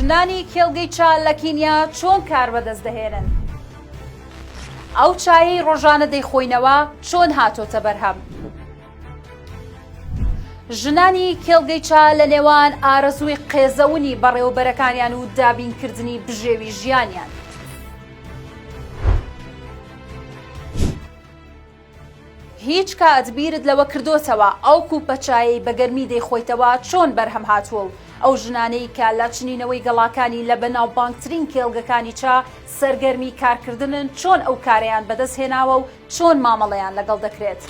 ژنانی کێڵگەی چا لە کینیا چۆن کار بەدەست دەهێنن؟ ئەو چایەی ڕۆژانە دەیخۆینەوە چۆن هاتۆتە بەرهەم؟ ژنانی کێڵگەی چا لە نێوان ئارەزووی قێزەونی بەڕێوەبەرەکانیان و دابینکردنی بژێوی ژیانیان. هیچ کات بیرت لەوە کردۆتەوە ئەو کوپە چایەی بە گەرمی دەیخۆیتەوە چۆن بەرهەم هاتووە و ئەو ژنانەی کە لە چنینەوەی گەڵاکانی لە بەناوبانگترین کێڵگەکانی چا سەرگەرمی کارکردنن چۆن ئەو کارەیان بەدەست هێناوە و چۆن مامەڵەیان لەگەڵ دەکرێت؟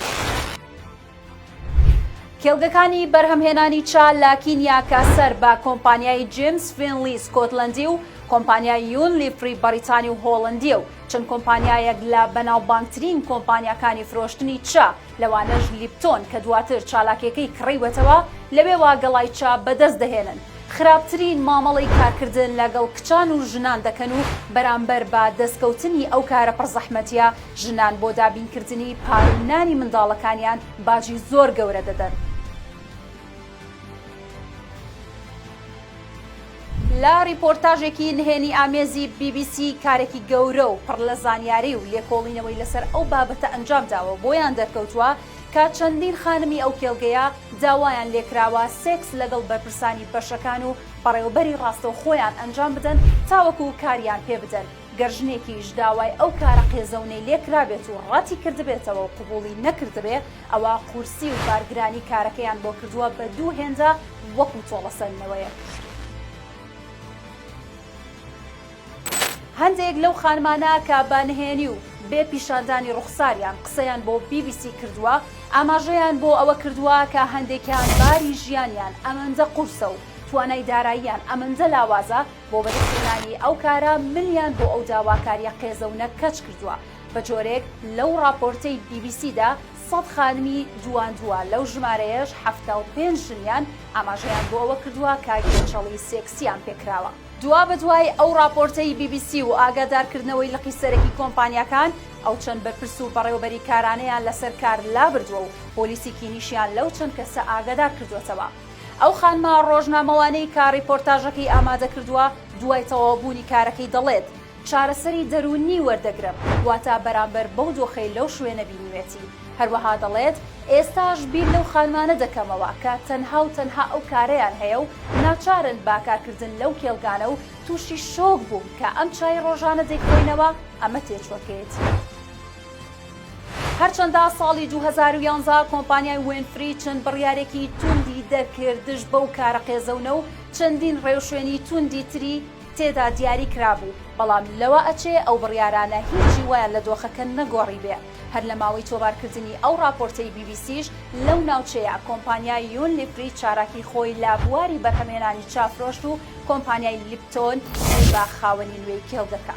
کێڵگەکانی بەرهەمهێنانی چا لە کینیا کە سەر بە کۆمپانیای جیمز فینلی سکۆتلەندی و کۆمپانیای یون لیفری بەریتانی و هۆڵندیە و چەند کۆمپانیایەک لە بەناوبانگترین کۆمپانیاکانی فرۆشتنی چا، لەوانەش لیپتۆن کە دواتر چالاکیەکەی کڕیوەتەوە، لەوێوە گەڵای چا بەدەست دەهێنن. خراپترین مامەڵەی کارکردن لەگەڵ کچان و ژنان دەکەن و بەرامبەر بە دەستکەوتنی ئەو کارە پڕ زەحمەتیە، ژنان بۆ دابینکردنی پاروو نانی منداڵەکانیان باجی زۆر گەورە دەدەن. لە ڕیپۆرتاژێکی نهێنی ئامێزی بی بی سی کارێکی گەورە و پڕ لە زانیاری و لێکۆڵینەوەی لەسەر ئەو بابەتە ئەنجام داوە بۆیان دەرکەوتووە کە چەندین خانمی ئەو کێڵگەیە داوایان لێکراوە سێکس لەگەڵ بەرپرسانی بەشەکان و بەڕێوبەری ڕاستەو خۆیان ئەنجام بدەن تاوەکو کاریان پێ بدەن گەر ژنێکیش داوای ئەو کارە قێزەونەی لێکرابێت و ڕەتی کردبێتەوە و قبوڵی نەکردبێ ئەوا قورسی و بارگرانی کارەکەیان بۆ کردووە بە دوو هێندە وەکو تۆڵەسەندنەوەیەک. هەندێک لەو خانمانە کە بە نهێنی و بێ پیشاندانی ڕوخساریان قسەیان بۆ بی بی سی کردووە، ئاماژەیان بۆ ئەوە کردووە کە هەندێکیان باری ژیانیان ئەمەندە قورسە و توانای داراییان ئەمەندە لاوازە، بۆ بەدەستهێنانی ئەو کارە ملیان بۆ ئەو داواکارییە قێزەونە کەچ کردووە. بە جۆرێک لەو ڕاپۆرتەی بی بی سیدا سەد خانمی دواندووە، لەو ژمارەیەش حەفتا و پێنج ژنیان ئاماژەیان بۆ ئەوە کردووە کە گێچەڵی سێکسییان پێ کراوە. دوابەدوای ئەو ڕاپۆرتەی بی بی سی و ئاگادارکردنەوەی لقی سەرەکی کۆمپانیاکان، ئەو چەند بەرپرس و بەڕێوەبەری کارانەیان لەسەر کار لابردووە و پۆلیسی کینیشیان لەو چەند کەسە ئاگادار کردووەتەوە. ئەو خانمە ڕۆژنامەوانەی کە ڕیپۆرتاژەکەی ئامادە کردووە، دوای تەواوبوونی کارەکەی دەڵێت، چارەسەری دەروونی وەردەگرم، واتە بەرامبەر بەو دۆخەی لەو شوێنە بینیوێتی. هەروەها دەڵێت، ئێستاش بیر لەو خانمانە دەکەمەوە کە تەنها و تەنها ئەو کارەیان هەیە و ناچارن بە کارکردن لەو کێڵگانە و تووشی شۆک بووم کە ئەم چای ڕۆژانە دەیخۆینەوە، ئەمە تێچووەکەیەتی. هەرچەندە ساڵی دوو هەزار و یانزە کۆمپانیای وینفری چەند بڕیارێکی توندی دەرکرد دژ بەو کارە قێزەونە و چەندین ڕێوشوێنی توندی تری، تێدا دیاری کرابوو، بەڵام لەوە ئەچێ ئەو بڕیارانە هیچی وایان لە دۆخەکە نەگۆڕیبێ. هەر لە ماوەی تۆمارکردنی ئەو ڕاپۆرتەی بی بی سیش لەو ناوچەیە، کۆمپانیای یون لیپری چالاکی خۆی لە بواری بەرهەمهێنانی چا فرۆشت و کۆمپانیای لیپتۆن ی بە خاوەنی نوێی کێڵگەکە.